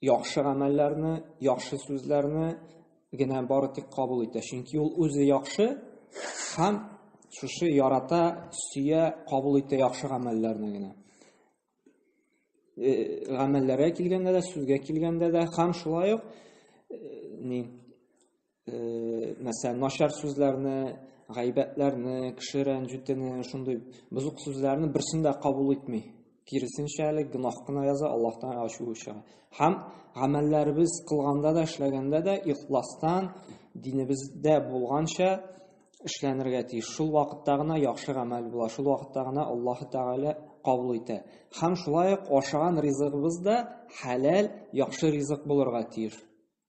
яхшы гамәлләрне, яхшы сүзләрне генә бары тик кабул итә. Чөнки ул үзе яхшы һәм шушы ярата, сөя, кабул итә яхшы гамәлләрне генә. Э, гамәлләргә килгәндә дә, сүзгә килгәндә дә һәм шулай ук э, ни мәсәлән, начар сүзләрне, гайбәтләрне, кеше рәнҗүтене, шундый бозык сүзләрне берсен дә кабул итми. Киресенчә әле гөнаһ кына яза, Аллаһтан ачу чыга. Һәм гамәлләребез кылганда да, эшләгәндә дә ихластан динебездә булганча эшләнергә тиеш. Шул вакытта гына яхшы гамәл була, шул вакытта гына Аллаһ Тәгалә кабул итә. Һәм шулай ук ашаган ризыгыбыз да хәләл, яхшы ризык булырга тиеш.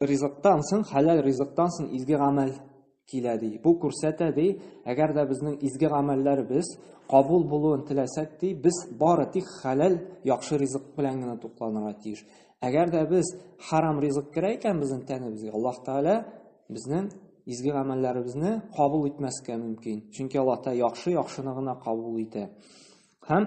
ризыктан соң, хәләл ризыктан соң изге гамәл килә ди. Бу күрсәтә ди, әгәр дә безнең изге гамәлләребез кабул булуын теләсәк ди, без бары тик хәләл яхшы ризык белән генә тукланырга тиеш. Әгәр дә без харам ризык керә икән безнең тәнебезгә, Аллаһ Тәгалә безнең изге гамәлләребезне кабул итмәскә мөмкин. Чөнки Аллаһ Тәгалә яхшы яхшыны гына кабул итә. Һәм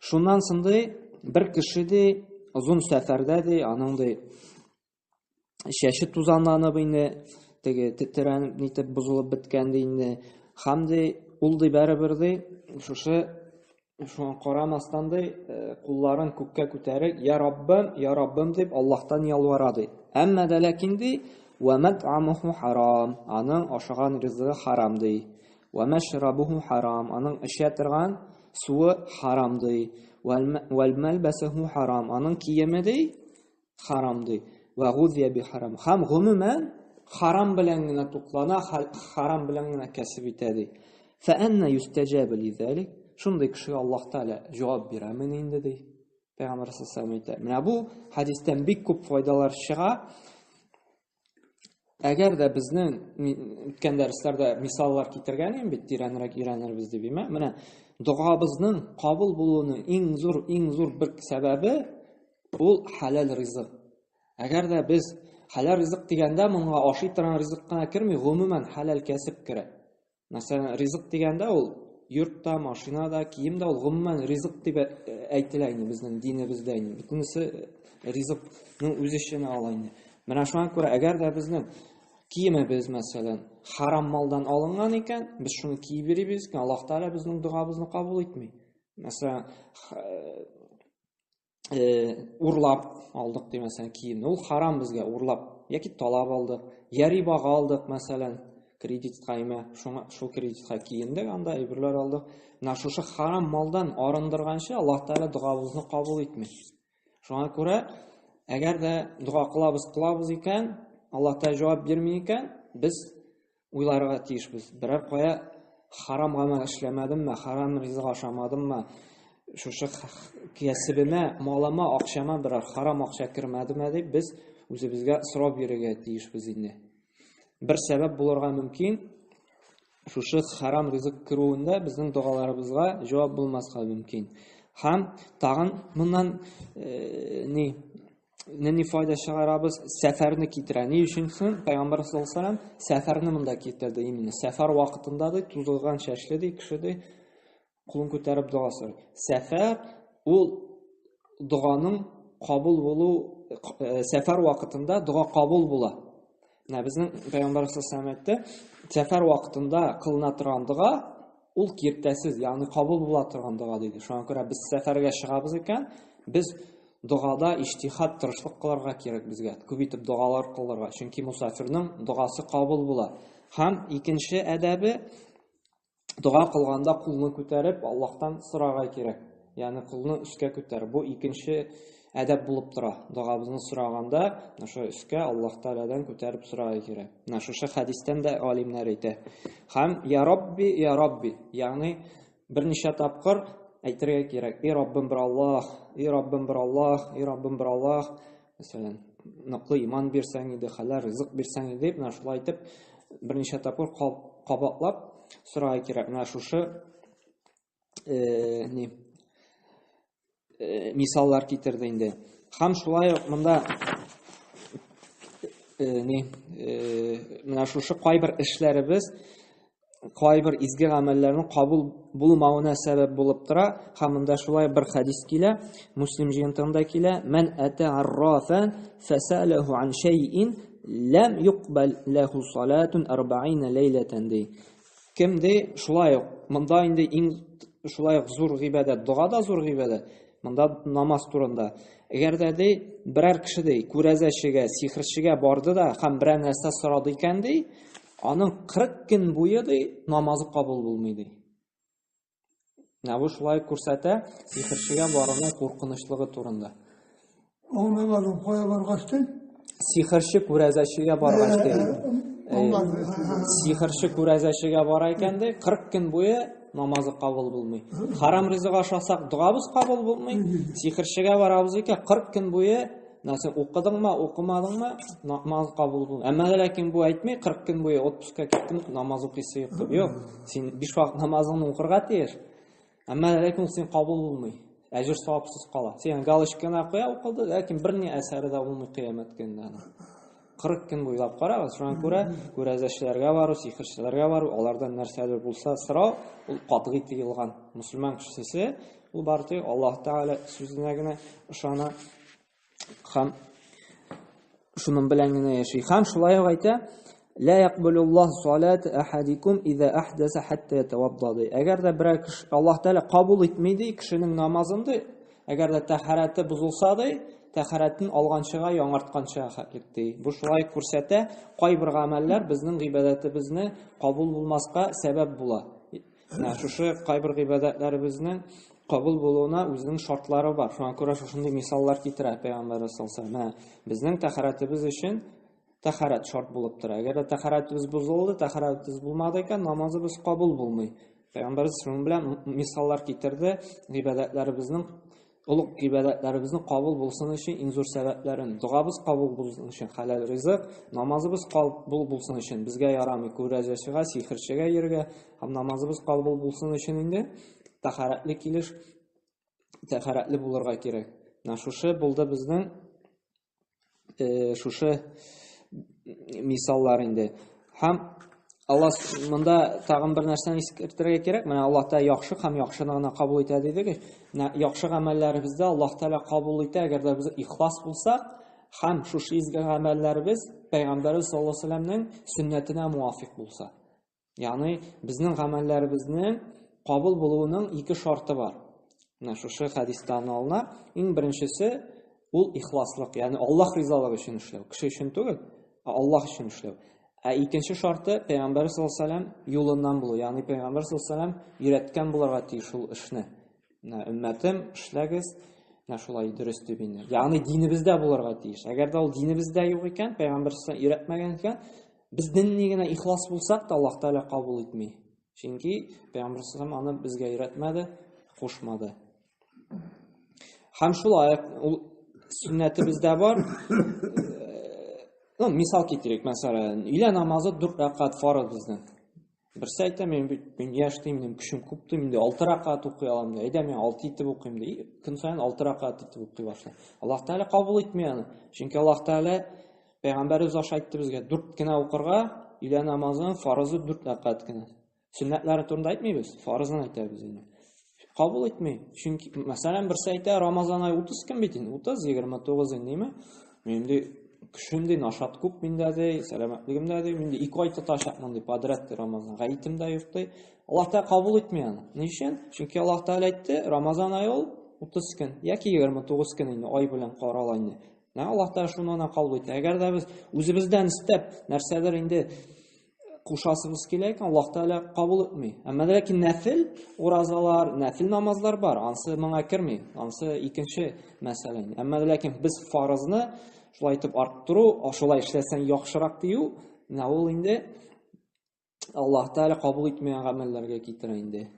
Шуннан сынды бер кеше ди, озын сәфәрдә ди, аның ди чәче тузанланып инде, теге тетрәнеп нитеп бозылып беткән ди инде. Хам ди, ул ди бәребер ди, шушы шуңа карамастан ди, э, кулларын күккә күтәреп, "Я Раббым, я Раббым" дип Аллаһтан ялвара ди. Әмма дә ләкин ди, "Ва мат'амуху харам", аның ашаган ризыгы харам ди. Вә мәшрабуху харам, аның эчә торган суы харам ди. Вәл мәлбәсуху харам, аның киеме ди харам ди. Вә гудия би харам. Хам гомумән харам белән генә туклана, харам белән генә кәсеп итә ди. Фә әннә юстәҗәбе лизәлик? Шундый кешегә Аллаһ Тәгалә җавап бирәме инде ди? Пәйгамбәр саллаллаху әйтә. Менә бу хадистән бик күп файдалар чыга. Әгәр дә безнең үткән дәресләрдә мисаллар китергән идем бит, тирәнрәк өйрәнербез дип, имә. Менә догабызның кабул булуының иң зур, иң зур бер сәбәбе ул халал ризык. Әгәр дә без халал ризык дигәндә, моңа ашый торган ризык кына керми, гомумән халал кәсеп керә. Мәсәлән, ризык дигәндә ул йорт та, машина да, кием дә ул гомумән ризык дип әйтелә инде безнең динебездә инде. Бөтенесе ризыкның үз эченә ала инде. Менә шуңа күрә, әгәр дә безнең киемебез, мәсәлән, харам малдан алынган икән, без шуны киеп йөрибез икән, Аллаһ Тәгалә безнең догабызны кабул итми. Мәсәлән, э, урлап алдык ди мәсәлән киемне ул харам безгә урлап яки талап алдык я рибага алдык мәсәлән кредитка имә шуңа шул кредитка киендек анда әйберләр алдык менә шушы харам малдан арындырганчы аллаһ тәғәлә догабызны кабул итми шуңа күрә әгәр дә дога кылабыз кылабыз икән аллаһ тәғәлә җавап бирми икән без уйларга тиешбез. Берәр кая харам гамәл эшләмәдемме, харам ризык ашамадыммы, шушы кәсебемә, малыма, акчама берәр харам акча кермәдеме дип без үзебезгә сорап йөрергә тиешбез инде. Бер сәбәп булырга мөмкин, шушы харам ризык керүендә безнең догаларыбызга җавап булмаска мөмкин. Һәм тагын моннан э, ни нинди файда чыгарабыз? Сәфәрне китерә. Ни өчен соң? Пәйгамбәр саллаллаху алейһи вәсәлләм сәфәрне монда китерде именно. Сәфәр вакытында ди, тузылган чәчле ди кеше ди, кулын күтәреп дога сорый. Сәфәр ул доганың кабул булу сәфәр вакытында дога кабул була. Менә безнең пәйгамбәр саллаллаху әйтте, сәфәр вакытында кылына торган дога ул киртәсез, ягъни кабул була торган дога диде. Шуңа күрә без сәфәргә чыгабыз икән, без догада иҗтихад, тырышлык кылырга кирәк безгә. Күп итеп догалар кылырга, чөнки мусафирның догасы кабул була. Һәм икенче әдәбе дога кылганда кулны күтәреп Аллаһтан сорарга кирәк. Ягъни кулны өскә күтәр. Бу икенче әдәп булып тора. Догабызны сораганда, шушы өскә Аллаһ Тәгаләдән күтәреп сорарга кирәк. Менә шушы хәдистән дә галимнәр әйтә. Хәм я Рабби, я Рабби, ягъни берничә тапкыр әйтергә кирәк. И Раббым бер Аллаһ, и Раббым бер Аллаһ, и Раббым бер Аллаһ. Мәсәлән, ныклы иман бирсәң иде, хәләл ризык бирсәң иде, менә шулай итеп берничә тапкыр кабатлап сорарга кирәк. Менә шушы э, ни э, мисаллар китерде инде. Һәм шулай ук монда э, ни э, менә шушы кайбер эшләребез кайбер изге гамәлләрнең кабул булмавына сәбәп булып тора. Һәм монда шулай бер хадис килә, Муслим җыентыгында килә, "Мен ата аррафан фасалаху ан шайин лам юкбал лаху салатун 40 лейлатан" ди. Кем ди, шулай ук монда инде иң шулай ук зур гыйбадәт, дога да зур гыйбадәт. Монда намаз турында. Әгәр дә ди, берәр кеше ди, күрәзәчегә, сихрчегә барды да һәм берәр нәрсә сорады икән ди, Аның 40 көн буе ди намазы кабул булмый ди. Менә бу шулай күрсәтә сихерчегә баруның куркынычлыгы турында. Ул намазын кая баргач ди? Сихерче күрәзәчегә баргач ди. Сихерче күрәзәчегә бара икән ди, 40 көн буе намазы кабул булмый. Харам ризык ашасак, догабыз кабул булмый. Сихерчегә барабыз икән, 40 көн буе Менә син укыдыңмы, укымадыңмы, намаз кабул булды. Әмма ләкин бу әйтми, 40 көн буе отпускка киттем, намаз укыйсы юк дип. Юк, син биш вакыт намазыңны укырга тиеш. Әмма ләкин син кабул булмый. Әҗер савапсыз кала. Син галочканы куя укылды, ләкин бер ни әсәре дә булмый кыямәт көнендә. 40 көн буйлап карагыз, шуңа күрә күрәзәчеләргә бару, сихерчеләргә бару, алардан нәрсәдер булса сорау, ул катгый тыелган. Мусульман кешесе ул бары Аллаһ Тәгалә сүзенә генә ышана һәм шуның белән генә яши. Һәм шулай ук әйтә, Ла якбулуллах салат ахадикум иза ахдаса хатта ятаваддады. Әгәр дә берәр кеше Аллаһ Тәгалә кабул итми ди кешенең намазын ди, Әгәр дә тәһарәте бозылса ди, тәһарәтен алганчыга яңартканча хәтлек ди. Бу шулай күрсәтә, кайбер гамәлләр безнең гыйбадәтебезне кабул булмаска сәбәп була. Менә шушы кайбер гыйбадәтләребезнең кабул булуына үзенең шартлары бар. Шуңа күрә шушындый мисаллар китерә Пәйгамбәрбез саллаллаһу алейһи ва саллям. Менә безнең тәһарәтебез өчен Тәхарәт шарт булып тора. Әгәр дә тәхарәтебез бозылды, тәхарәтебез булмады икән, намазыбыз кабул булмый. Пәйгамбәрбез шуның белән мисаллар китерде, гыйбадәтләребезнең олуг гыйбадәтләребезнең кабул булсын өчен иң зур сәбәпләрен, догабыз кабул булсын өчен хәләл ризык, намазыбыз кабул булсын өчен безгә ярамый күрәзәчегә, сихерчегә йөрергә, һәм намазыбыз кабул булсын өчен инде тәхарәтле килеш тәхарәтле булырга кирәк. Менә шушы булды безнең э, шушы мисаллар инде һәм алла монда тагын бер нәрсәне искәртергә кирәк менә алла тәала яхшы һәм яхшыны гына кабул итә дидек яхшы гамәлләребезде алла тәала кабул итә әгәр дә без ихлас булсак һәм шушы изге гамәлләребез пәйгамбәребез саллаллаху алейһи вәсәләмнең сөннәтенә муафик булса Ягъни безнең гамәлләребезнең кабул булуының ике шарты бар. Менә шушы хадистан алына. Иң беренчесе ул ихласлык, ягъни Аллаһ ризалыгы өчен эшләү. Кеше өчен түгел, ә Аллаһ өчен эшләү. Ә икенче шарты Пәйгамбәр саллаллаһу алейһи вәсәлләм юлыннан булу, ягъни Пәйгамбәр саллаллаһу алейһи вәсәлләм өйрәткән буларга тиеш ул эшне. Менә өммәтем, эшләгез, менә шулай дөрес дип инде. Ягъни динебездә буларга тиеш. Әгәр дә ул динебездә юк икән, Пәйгамбәр саллаллаһу алейһи вәсәлләм өйрәтмәгән икән, Без динни генә ихлас булсак та, Аллаһ Тәгалә кабул итми. Чөнки Пәйгамбәр саллаллаху аны безгә өйрәтмәде, кушмады. Һәм шулай ул сөннәте бездә бар. Ну, мисал китерик, мәсәлән, илә намазы 4 рәкат фарыз безнең. Берсе әйтә, мин, мин яшь дим, мин көчем күп дим, инде алты ракат укый алам, әйдә мин алты итеп укыйм, ди. Көн саен алты ракат итеп укый башлый. Аллаһ Тәгалә кабул итми аны. Чөнки Аллаһ Тәгалә пәйгамбәребез аша әйтте безгә, дүрт кенә укырга, өйлә намазының фарызы дүрт ракат кенә. Сөннәтләре турында әйтмибез, фарызын әйтәбез инде. Кабул итми. Чөнки, мәсәлән, берсе әйтә, Рамазан ай 30 көн бит инде, 30, 29 инде, димме? Мин ди, көчем ди, нашат күп миндә ди, сәламәтлегем дә ди, мин ди, ике ай тотачакмын ди, подряд ди Рамазан. Гаетем дә юк ди. Аллаһ Тәгалә кабул итми аны. Ни өчен? Чөнки Аллаһ Тәгалә әйтте, Рамазан ай ул 30 көн, яки 29 көн инде ай белән карала инде. Аллаһ Тәгалә шуны кабул итә. Әгәр дә без үзебездән истәп, нәрсәдер инде кушасыгыз килә икән, Аллаһ Тәгалә кабул итми. Әмма ләкин нәфил уразалар, нәфил намазлар бар, ансы моңа керми, ансы икенче мәсьәлә. Әмма ләкин без фарызны шулай итеп арттыру, шулай эшләсәң яхшырак дию, менә ул инде Аллаһ Тәгалә кабул итмәгән гамәлләргә китерә инде.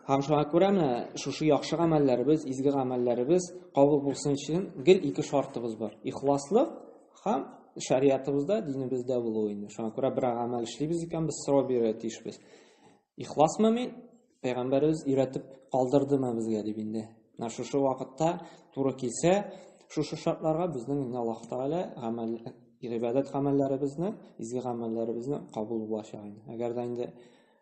Һәм шуңа күрә менә шушы яхшы гамәлләребез, изге гамәлләребез кабул булсын өчен гел ике шартыбыз бар. Ихласлык һәм шариятыбызда, динебездә булу инде. Шуңа күрә бер гамәл эшлибез икән, без сорау бирергә тиешбез. Ихласмы мин? Пәйгамбәребез өйрәтеп калдырдымы безгә дип инде. Менә шушы вакытта туры килсә, шушы шартларга безнең инде Аллаһ Тәгалә гамәл гыйбадәт гамәлләребезне, изге гамәлләребезне кабул булачак инде. Әгәр дә инде